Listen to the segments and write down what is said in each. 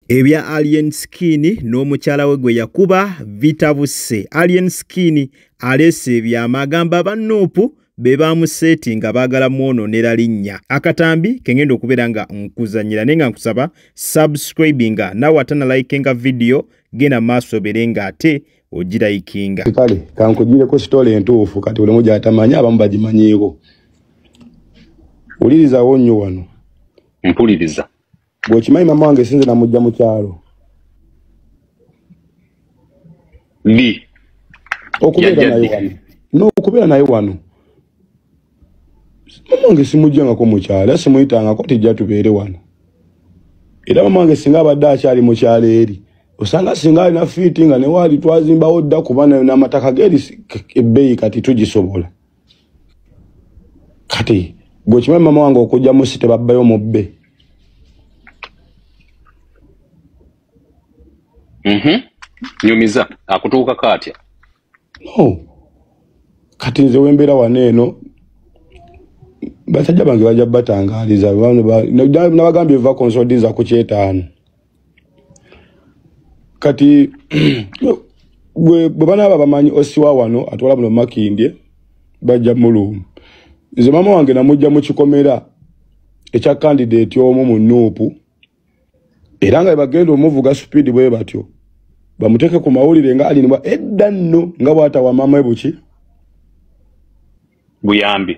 ebya alien skin n'omukyala we gwe yakuba bitabuse alien skin aleese ebyama agamba aba nuupu be baamuseeti nga baagala mwononera linnya akatambi kengenda okubeera nga nkuzanyira naye nga nkusaba subscribinga nawe ate nalayikinga vidiyo genda maaso obeere nga ate ogirayikinga kale kankugireko sitole entuufu kati buli omu gyatamanyi abamu bagimanyiiko wulirizawo nnyo wano mpuliriza bwokimanyi mama wange sinze namujja mu kyalo bi okubeera naye wano nokubeera naye wano mama wange simujjangako mukyalo era simuyitangako tijja tubeere wano era mama wange singa abadde akyali mukyalo eri osanga singa alina fiiti nga newaali twazimbawo dda kuba nayo n'amataka ge ebbeeyi kati tugisobola kati gwe kimanyi mama wange okujja mu si tebabbayo mubbe mhm. nyumiza akutuuka kaatya no kati nze wembeera wano eno basajja bange bajja batangaaliza nabagambye eva konsodinza ku kyetaano kati gwe bwe banaaba bamanyi osiwa wano atwala muno makindye bajja muluumu nze maama wange namujja mu kikomera ekya kandidaeti omu mu nuupu era nga bagenda omuvuga supiidi bwe batyo bamuteeke ku mawulire nga alinibwa edda nno nga bwatawa maama we buki buyambi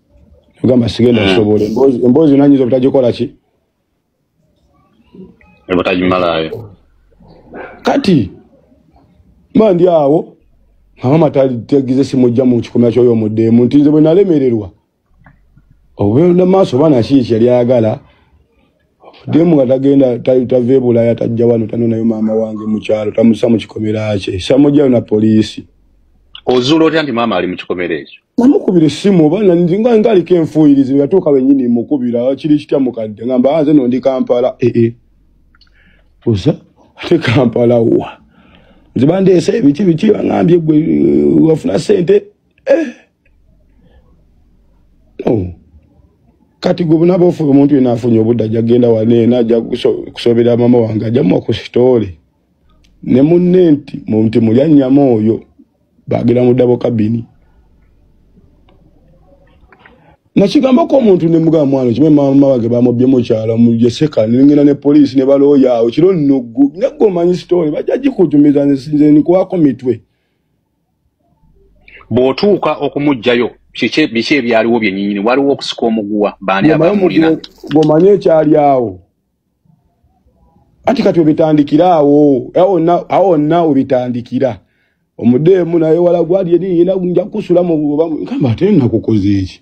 ogamba sigenda kusobola hmm. emboozi yona nyinza obutagikola ki obutagimalayo kati ma ndi awo amama tagize simujja mu kikomera kyoyo omuddeemu nti nze bwe nalemererwa obenda maaso oba nakiiki yali ayagala demu nga tagenda tave bulaya tajja wano tanonayo maama wange mukyalo tamusa mukikomera kye samujalo na poliisi ozuula otya nti maama ali mukikomera ekyo namukubira essimu oba nga ngaliko enfuuyirizi yatuuka wenyini mukubira kiri kitya mukadde ngamba ah, nze nondi kampala ee eh, eh. oza ate kampala wa nze bandeesa ebiki biki bangambye gwe eh, wafuna sente ee oh. kati gwe bunaba ofuba omuntu yena afunye obudde ajja kugenda waneena ajja kusobera mama wange ajja muwa ku sitoole ne munne nti munti mulya nnyama oyo bagera mu dabo kabini nakigambako omuntu ne mugamba mwana kimwe mama wange bamubbye mukyala mujeseka nengenda ne poliisi ne balooya awo kiro nnugu neggomanyi sitoole bajja gikujumiza nze nikuwako mitwe bw'otuuka okumuggyayo biki ebyaliwo byenyinyini waliwo okusika omuguwa baani abamulina gomanye ekyali awo anti kati obitandikira awo awo wonna obitandikira omudeemu naye wala gwali eri yena nja kukusulamu oba nkamba ate nakukoze eki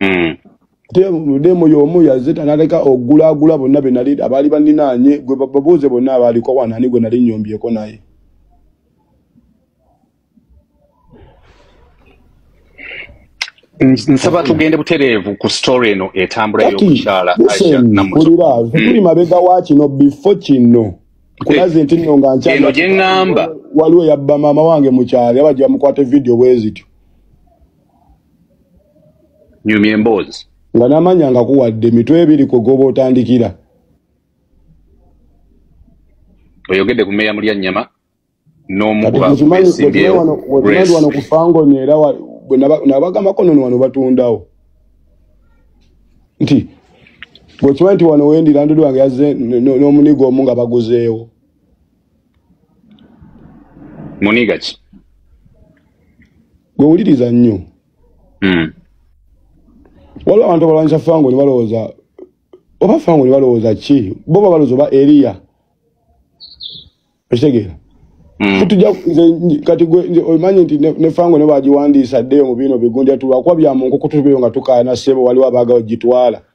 mm. demu yomu yazita naleka ogulagula bonna benali abaali baninaanye gwe babuuze bonna abaaliko wanani gwe nali nyombyeko naye nsaba tugende butereevu ku story eno etambula yokukyala ulira zikuli hmm. mabega wa kino bifo kino kulaze nti nno nga nkyeno gyeŋŋamba waliwo yabba maama wange mukyali abajja mukwate vidiyo bwezityo nyumya emboozi nga namanya nga kuwadde mitwe ebiri kwe goba otandikira oyogedde ku meeya mulya nnyama n'omukubaesimbyewoano ku fangoni era nabagamako nono wano batundawo nti bwekimanyi nti wano wendira ndudu wange yazze n'omuniga omu nga baguzeewo muniga ki gwe wuliriza nnyo hmm. waliwo abantu abalwanyisa fango ne balowooza oba fango ne balowooza ki bo ba balowooza oba eriya okitegeera hmm. tutuja kati omanyi nti ne fango ne bagiwandiisa ddeyo mu biino bigunja tulwakuba bya mu nkoko tubeyo nga tukaayana sebo waliwo abaaga ogitwala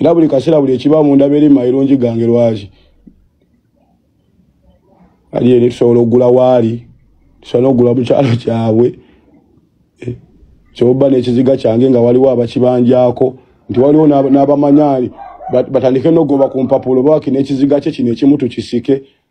era buli kaseera buli ekiba munda beere mairungi gange lwaki ali eri tusobola okugula waali tusobola n'okugula mu kyalo kyabwe eh, kyoba n'ekiziga kyange nga waliwo abakibanjako nti waliwo n'abamanyaani batandike n'ogoba ku mpapulo bawaki n'ekiziga kye kino ekimu tukisike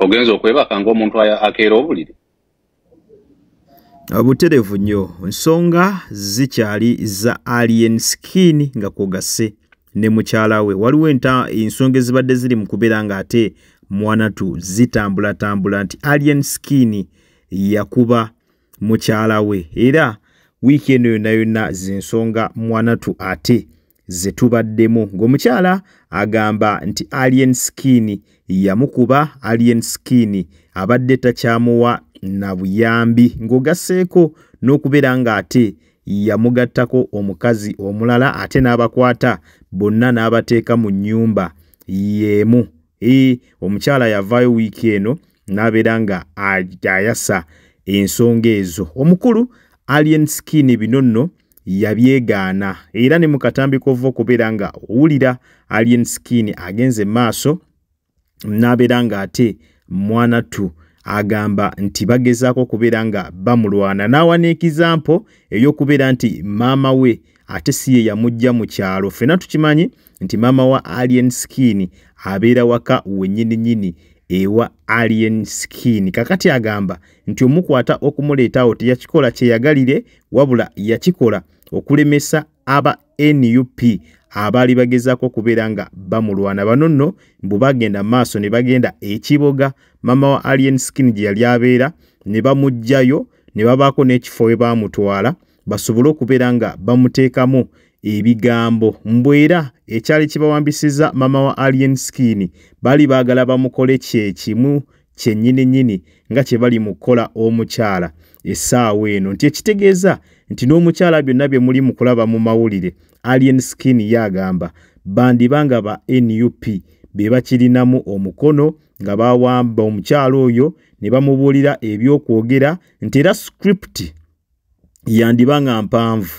ogenza okwebaka ngaomuntu akeera obuliri buterevu nnyo nsonga zikyali za alien skin nga kwogase ne mukyala we waliwo ensonga ezibadde ziri mu kubeera ng'ate mwanatu zitambulatambula nti alien skin yakuba mukyala we era wiiki eno yonna yonna zensonga mwanatu ate ze tubaddemu ng'omukyala agamba nti alien skin yamukuba alien skin abadde takyamuwa na buyambi ng'ogasseeko n'okubeera ng'ate yamugattako omukazi omulala ate n'abakwata bonna n'abateeka mu nnyumba y'emu ee omukyala yavaayo wiiki eno n'abeera nga ayasa ensonga ezo omukulu alien skin bino nno yabyegaana era ne mu katambi k'ova okubeera nga owulira alien skin agenze maaso n'abeera ng'ate mwanattu agamba nti bagezaako okubeera nga bamulwana n'awa n'ekizampo ey'okubeera nti maama we ate si ye yamujja mu kyalo ffena tukimanyi nti maama wa alien skin abeera waka wenyini nyini ewa alien skin kakati agamba nti omukwata okumuleetawo teyakikola kyeyagalire wabula yakikola okulemesa aba nup abaali bagezaako okubeera nga bamulwana bano nno mbu bagenda maaso ne bagenda ekiboga maama wa alien skin gye yali abeera ne bamugjayo ne babaako n'ekifo we baamutwala ba basobole okubeera nga bamuteekamu ebigambo mbu era ekyali kibawambisiza maama wa alien skin baali baagala bamukole kyekimu kyennyini nnyini nga kye bali mu kukola omukyala essaawa eno nti ekitegeeza nti n'omukyala byonna bye muli mu kulaba mu mawulire alien skin ye agamba bandiba nga ba nup be bakirinamu omukono nga bawamba omukyala oyo ne bamubuulira ebyokwogera nti era script yandiba nga mpanvu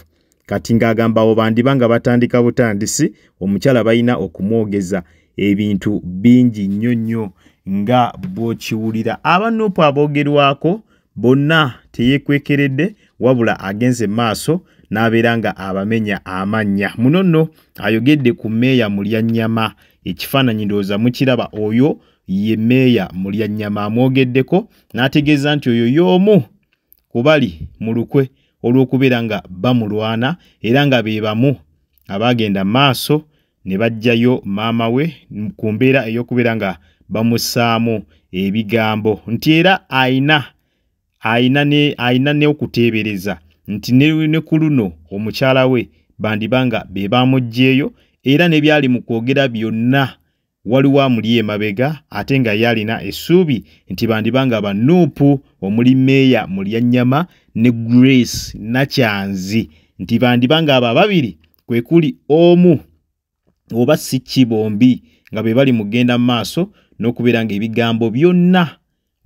kati ng'agamba abo bandiba nga batandika butandisi omukyala balina okumwogeza ebintu bingi nnyo nnyo nga bw'okiwulira abanupu aboogerwako bonna teyekwekeredde wabula agenze maaso n'abeera nga abamenya amannya muno nno ayogedde ku meeya mulyannyama ekifaananyi ndowooza mukiraba oyo ye meeya mulyannyama amwogeddeko n'ategeeza nti oyo y'omu kubali mu lukwe olw'okubeera nga bamulwana era nga be bamu abaagenda maaso ne baggyayo maama we ku mbeera ey'okubeera nga bamusaamu ebigambo nti era ayina ayina n'okuteebereza nti ne ku luno omukyala we bandiba nga be baamuggyeyo era ne byali mu kwogera byonna waliwo amuli emabega ate nga ye alina essuubi nti bandiba nga banuupu omuli meeya mulyanyama ne grace nakyanzi nti bandiba nga abo ababiri kwe kuli omu oba si ki bombi nga be bali mugenda mu maaso n'okubeera ng'ebigambo byonna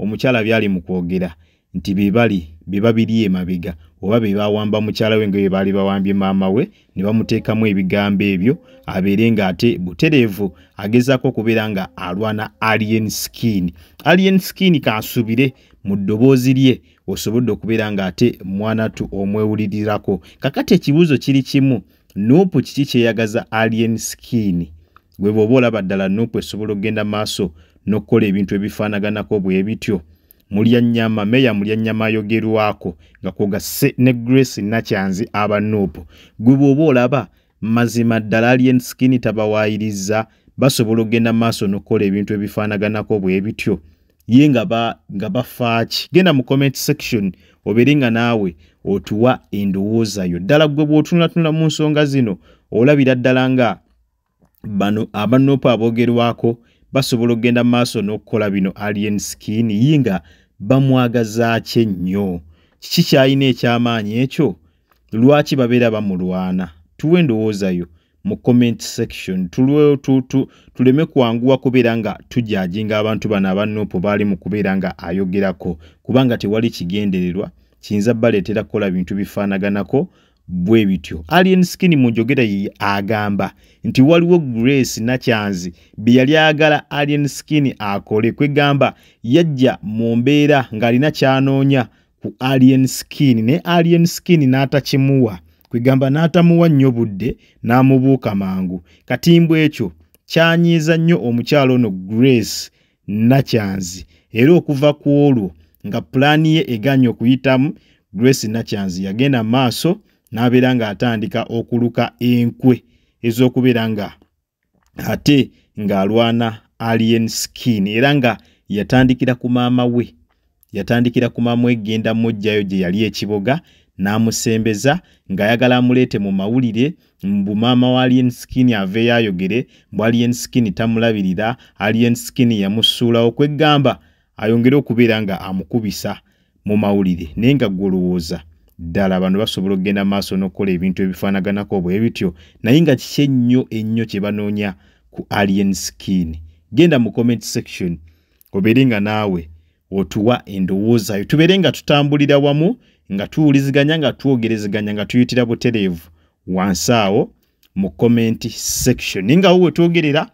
omukyala byali mu kwogera nti bebali beba biri emabega oba be bawamba mukyala we nga bye baali bawambye maama we ne bamuteekamu ebigambo ebyo abeere nga ate butereevu agezaako okubeera nga alwana alien skin alien skin kansubire mu ddoboozi lye osobodde okubeera nga ate mwanatu omwewulirirako kakati ekibuuzo kiri kimu nuupu kiki kyeyagaza alien skin Gwe bw'oba olaba ddala nuupu esobola okugenda maaso n'okukola ebintu ebifaanaganako bwe bityo. Mulyannyama, Meeya Mulyannyama ayogerwako nga kw'ogasse ne Grace Nakyanzi aba nuupu. Gwe bw'oba olaba mazima ddala Alien Skin tabawaayirizza basobola okugenda maaso n'okukola ebintu ebifaanaganako bwe bityo. Ye nga bafaaki. Genda mu comment section obeere nga naawe otuwa endowooza yo. Ddala gwe bw'otunulatunula mu nsonga zino olabira ddala nga bano abanoopa aboogerwako basobola okugenda mu maaso n'okukola bino alien skin yi nga bamwagazaaki ennyo kiki kyalina eky'amaanyi ekyo lwaki babeera bamulwana tuwa endowoozayo mu comment section tuleme kwanguwa kubeera nga tujajinga abantu bano abanoopo baali mu kubeera nga ayogerako kubanga tewali kigendererwa kiyinza baleetera kukola bintu bifaanaganako bwe bityo alien skin mu njogera ye agamba nti waliwo grace nakyanzi bye yali agala alien skin akole kwegamba yajja mu mbeera ng'alina kyanoonya ku alien skin ne alien skin n'atakimuwa kwegamba n'atamuwa nnyo budde n'amubuuka mangu katimbw ekyo kyanyiiza nnyo omukyalo ono grace Nakyanzi era okuva ku olwo nga pulaani ye eganye okuyitamu Grace Nakyanzi yagenda maaso n'abeera ng'atandika okuluka enkwe ez'okubeera nga ate ng'alwana alien skin era nga yatandikira ku maama we Yatandikira ku Mamweggenda muggyayo gye yali e Kiboga n'amusembeza ng'ayagala amuleete mu mawulire mbu maama wa Alien Skin aveeyo ayogere mbu Alien Skin tamulabirira, Alien Skin yamusuulawo kweggamba ayongere okubeera nga amukubisa mu mawulire naye nga gwolowooza ddala bano basobola okugenda maaso n'okukola ebintu ebifaanaganako bwe bityo naye nga kiki ennyo ennyo kye banoonya ku Alien Skin. Genda mu comment section obeere nga naawe otuwa endowoozayo tubeere nga tutambulira wamu nga tuwuliziganya nga twogerezeganya nga tuyitira butereevu wansi awo mu comment section naye ngawo wetwogerera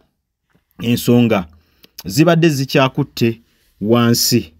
ensonga zibadde zikyakutte wansi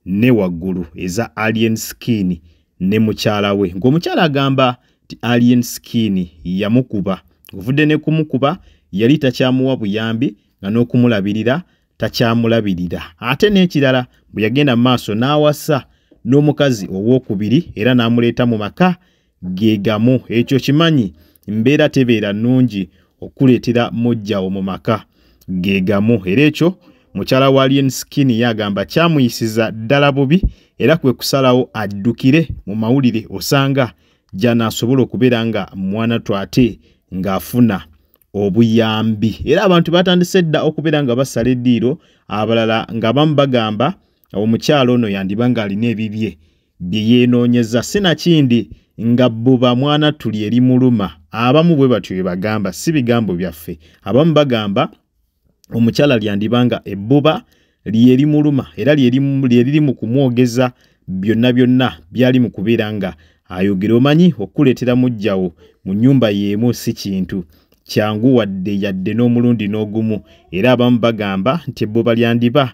ne waggulu eza alien skin ne mukyala we ng'omukyala agamba nti alien skin yamukuba ovudde ne kumukuba yali takyamuwa buyambi nga n'okumulabirira takyamulabirira ate n'ekirala bwe yagenda mu maaso n'awasa n'omukazi ow'okubiri era n'amuleeta mu maka ge gamu ekyo kimanyi mbeera tebeera nnungi okukuleetera mujjawo mu maka ge gamu era ekyo mukyala wa lien skin yagamba kyamuyisiza ddala bubi era kwe kusalawo addukire mu mawulire osanga gy'anaasobola okubeera nga mwana twate ng'afuna obuyambi era abantu batandise dda okubeera nga basala eddiiro abalala nga bamu bagamba omukyalo ono yandiba ng'alina ebibye bye yeenoonyeza sinakindi nga buba mwana tuli eri muluma abamu bwe batyo bye bagamba si bigambo byaffe abamu bagamba omukyala lyandiba nga ebbuba lyerimuluma era lyeriri mu kumwogeza byonna byonna byali mu kubeera nga ayogera omanyi okukuleetera mujjawo mu nnyumba y'emu si kintu kyangu wadde yadde n'omulundi n'ogumu era abamu bagamba nti ebbuba lyandiba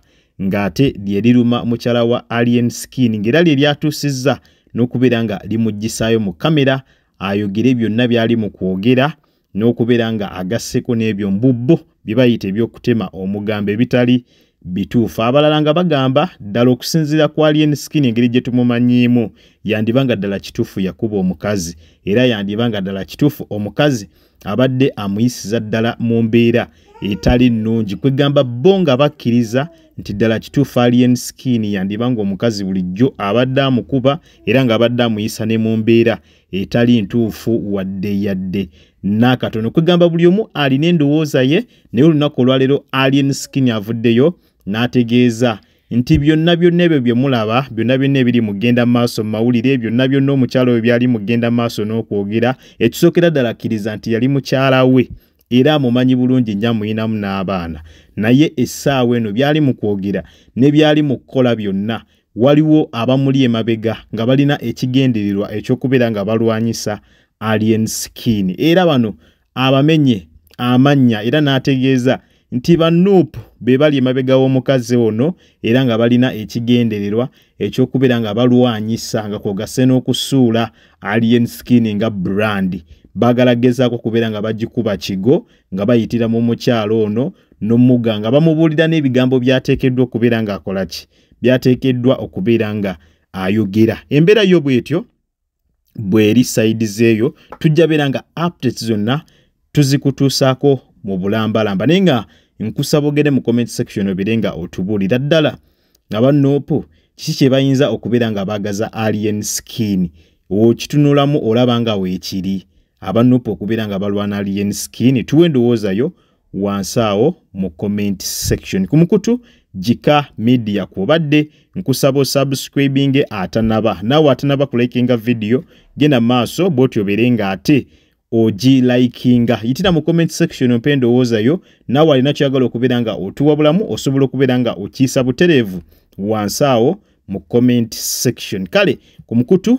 ng'ate lyeriruma mukyala wa alien skin ng'era lye lyatuusizza n'okubeera nga limuggisaayo mu kamera ayogere byonna byali mu kwogera n'okubeera nga agasseko n'ebyo mbubbo bye bayita eby'okutema omugambo ebitali bituufu abalala nga bagamba ddala okusinziira ku alien skin engeri gye tumumanyiimu yandiba nga ddala kituufu yakuba omukazi era yandiba nga ddala kituufu omukazi abadde amuyisiza ddala mu mbeera etali nnungi kwegamba bo nga bakkiriza nti ddala kituufu alien skin yandiba nga omukazi bulijjo abadde amukuba era ng'abadde amuyisa ne mu mbeera etali ntuufu wadde yadde n'akatono kwegamba buli omu alina endowooza ye naye olunaku olwaleero alien skin avuddeyo n'ategeeza nti byonna byonna ebyo bye mulaba byonna byonna ebiri mugenda maaso mu mawulire byonna byonna omukyala oyo byali mugenda maaso n'okwogera ekisookera ddala akkiriza nti yali mukyala we era amumanyi bulungi nnyo amuyinamu n'abaana naye essaawa eno byali mu kwogera ne byali mu kukola byonna waliwo abamuli emabega nga balina ekigendererwa ekyokubeera nga balwanyisa alien skin era bano abamenye amannya era n'ategeeza nti banup be bali emabega w'omukazi ono era nga balina ekigendererwa ekyokubeera nga balwanyisa nga kwogase n'okusuula alien skin nga brand baagala gezaako okubeera nga bagikuba kigo nga bayitira mu mukyalo ono n'omuga nga bamubuulira n'ebigambo byateekeddwa okubeera ng'akola ki byateekeddwa okubeera nga ayogera embeera yo bwetyo bweri sayidi zeeyo tujja beera nga updates zonna tuzikutuusaako mu bulambalamba naye nga nkusaba ogere mu comment section obeere nga otubuulira ddala nga banoopu kiki kye bayinza okubeera nga baagaza alien skin okitunulamu olaba nga weekiri abanoopu okubeera nga balwana alien skin tuwa endowoozayo wansi awo mu comment section ku mukutu jika media kwobadde nkusaba osubscribinge atanaba naawe atanaba kulikinga vidiyo genda maaso bwoti obeere nga ate ogi likinga yitira mu comment section ompe endowooza yo naawe alina kyagala okubeera nga otuwabulamu osobola okubeera nga okiisa butereevu wansi awo mu comment section kale ku mukutu